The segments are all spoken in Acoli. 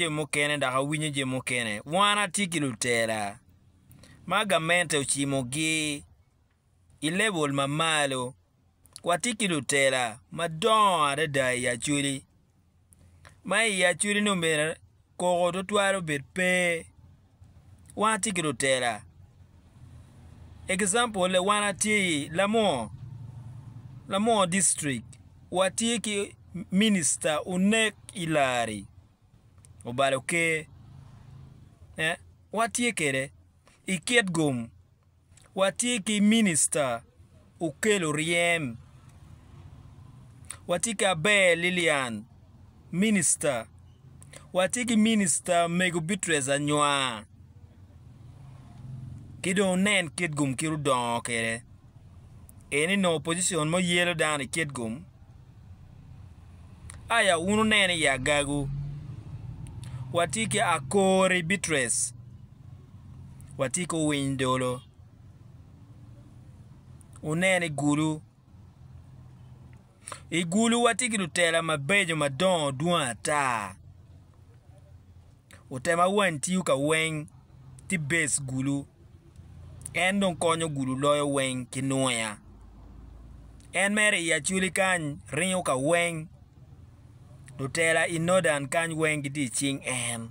jo mukene dok awinyo jo mukene. Wan atye ki lutela ma gamente ocimogi i lebol ma malo. Watye ki lutela madongo adada i Acholi, ma i Acholi-ni omyero koko tutwal obed pe wan atye ki lutela. Example le wan atye i Lamor, Lamor district, watye ki minista onek i lari obalo ker, watye kede i kit gum Watye ki Minicita Okel Oryem, watye ki Aber Lilian, Minicita, watye ki Minicita Mego Beatrice Anywa, ki dong wunen kit gum kit odongo kede, en eni opposition mo yelo dano i kit gum, aya wun wunene i agagu, watye ki Akori Beatrice. watye ki owiny dolo, wunen i gulu, i gulu watye ki lutela mabeco madongo dwong ata, lutela ma wany tiyo ka weng tye base gulu en dong konyo gulu loyo weng ki nwoya en mere i acholi kany ringo ka weng lutela i nodan kany weng gitye i cing en.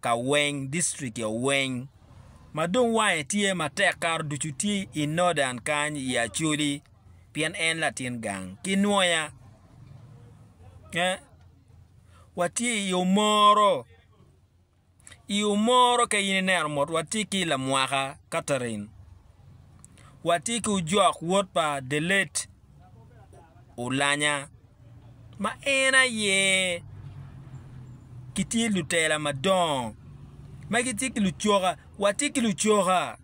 ka weng district o weng ma dong wange tye matek kato ducu tye i Northern kany i Acholi pien en latin gang ki Nwoya. Eh, watye i omoro, i omoro ka in ineno mot watye ki lamwaka Catherine, watye ki ojok wod pa the late Olanya ma en aye gitye lutela madongo ma gitye ki lucoka, watye ki lucoka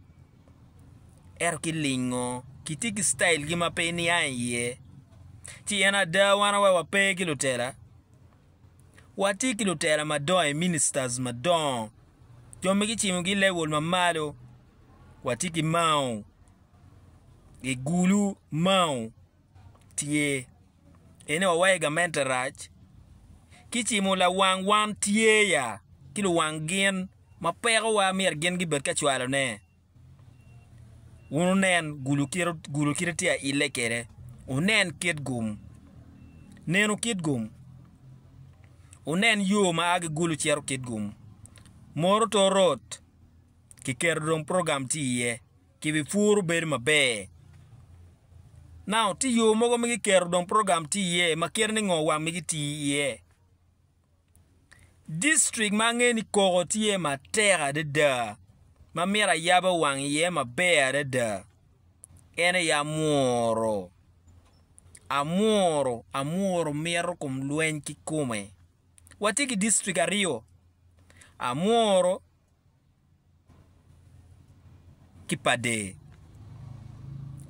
ento kilingo kitye ki citailgi ma pe nia iye ci en ada wan aye wape ki lutela watye ki lutela madongo i ministers madongo jo ma kicibogi i level ma malo watye ki Mao, Gigulu Mao. tye. En aye wawaye gamente rac ki cimo lawang wan tye ya ki luwang gin ma pekowa myero gin gibed ka cwalone. Wun wunen gulu kite gulu kite tye aile kede wunen kit gum nenu kit gum wunen yo ma agi gulu cito kit gum moro to rot kiketo dong program tye iye. Kibipuro bedo maber. Now, tye yo mogo ma giketo dong program tye iye ma kite ni ngo wang migi tii iye. District ma angeyo ni koko tye matek adada ma myero ayaba wang iye maber adada en aye Amuru. Amuru, Amuru mito kom lweny kikome. Watye ki district aryo, Amuru ki pa der.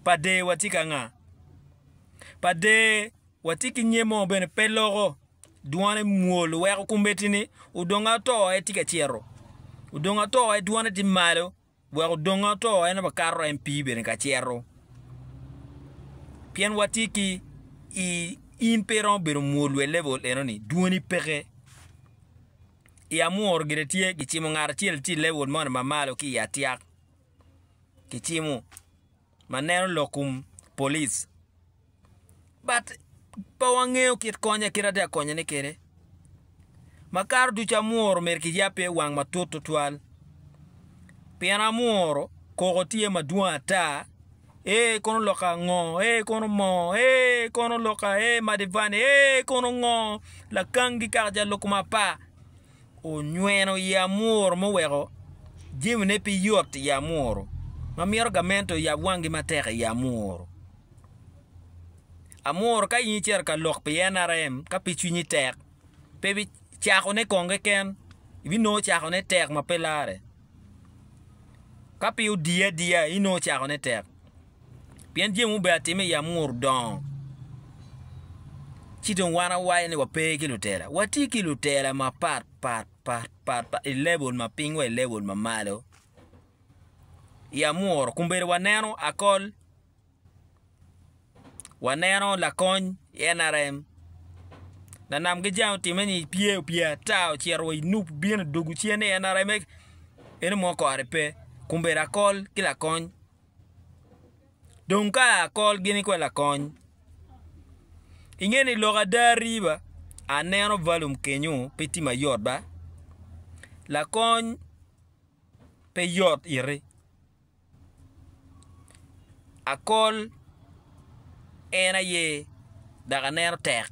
Pa der watye ki anga? Pa der watye ki nyen mo bene pe loko dwone mwol weko kombeddi ni odongo ato en tye ka cito odongo ato en dwone tye malo wek odongo ato en aye kato en pii bene ka cito pien watye ki i in pe iromo bedo mwol level eno ni dwoni peke. i Amwor gire tye, gicimo ngat acel ci lewol moni ma malo ki i atyak kicimo ma neno lok kum polic but pe wangeyo kit konye kit atye ka konyone kede makato ducu Amwor myero ki yab pe wang matut tutwal pien Amwor koko tye madwong ata Ee kono loka ango? Ee kono moo? Ee kono loka ee madivane? Ee kono ngo? Lakangi kaka ja loko ma pa onyweno i amuru mo weko jemi ne pi yot i amuru ma mito gamento yab wangi matek i amuru. Amuru ka in icito ka lok pi NRM ka pi cwinyi tek pe bi cako ne kong keken ibinongo cako ne tek ma pe lare. Ka pe odiye adiya, inongo cakone tek, pien jami mubedo atime i amuru dongo. Ci dong wan awaco ni wape ki lutela, watye ki lutela mapat pat pat pat pat i level ma piny wa i level ma malo i amuru, kombedo waneno akol. Waneno lakony i NRM lanam ki jang otime ni pye opye ata ocito wa i nup bino dugu cen ni NRM-me en omo kore pe kun bedo akol ki lakony dong ka akol gini kwede lakony inge ni lok ada riba aneno valum kenyo pe tye mayot ba lakony pe yot iti Akol en aye dok aneno tek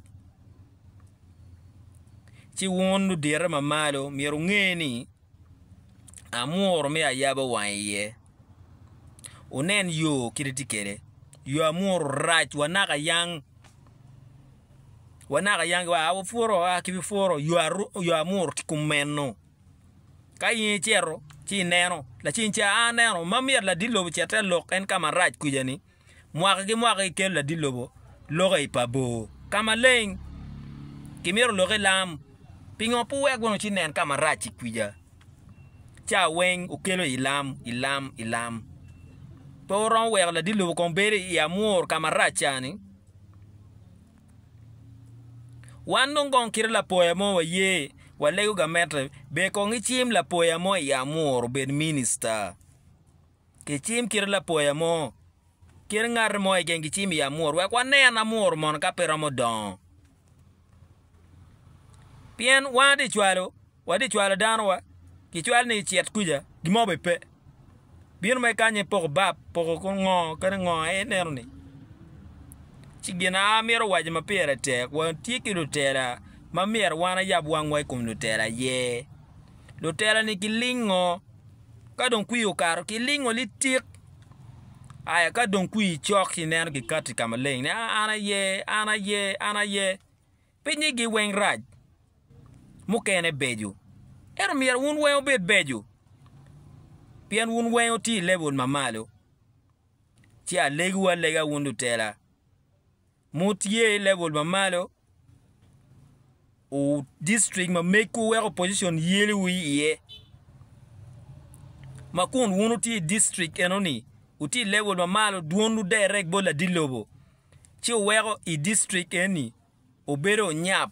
ci wun ludite mamalo myero wunge ni amuru me ayaba wang iye wunen yo kit ma tye kwede yo amuru rac wa naka yang wa naka yang wa puro wa ki bipuro yo amuru tye kumeno. Ka in icito ci ineno, laceng ca a aneno ma myero ladit lobo ocit te lok en ka marac kuca-ni. Mwaka ki mwaka gikelo ladit lobo lokke i pa bor. Ka maleng kimyero olokke i lam. Pingo pe wek wun wucit nen ka marac-ci kuca? Ca weng wukelo i lam, i lam, i lam. Pe wuromo weko ladit lobo kong bedo i amur ka marac ca-ni. Wan dong kong kite lapoya mo waye walego gamette ber kong icim lapoya mo i amur obed minista kicim kite lapoya mo kit ngat mo keken kicim i amur wek wanen amur mono ka pe romo dongo pien wan aye tye cwalo Wa di cwalo danowa, gicwal ni icit kuca, gimo be pe. Bino ma ikanye poko bap, poko ko ngo kadi ngo aye ineno ni. Ci gin a amito waco ma pire tek, watye ki lutela ma myero wan ayab wangwa i kom lutela aye. Lutela ni gilingo, ka dong kwir okato gilingo litik. Aya ka dong kwir cok ci ineno gikato i ka maleng ni a an aye, an aye, an aye. Pinnyigi weng rac, mukene beco. Ento myero wun weng obed beco, pien wun weng wutye i lebul ma malo. Ci alegiwu alega wun lutela, ma wutye i lebul ma malo, distrik ma megwu weko opojicon yeliwu iye. Ma kun wun wutye i distrik enoni, wutye i lebul ma malo, dwonwu derre bot ladit lobo, ci oweko i distrik eni obedo onyap.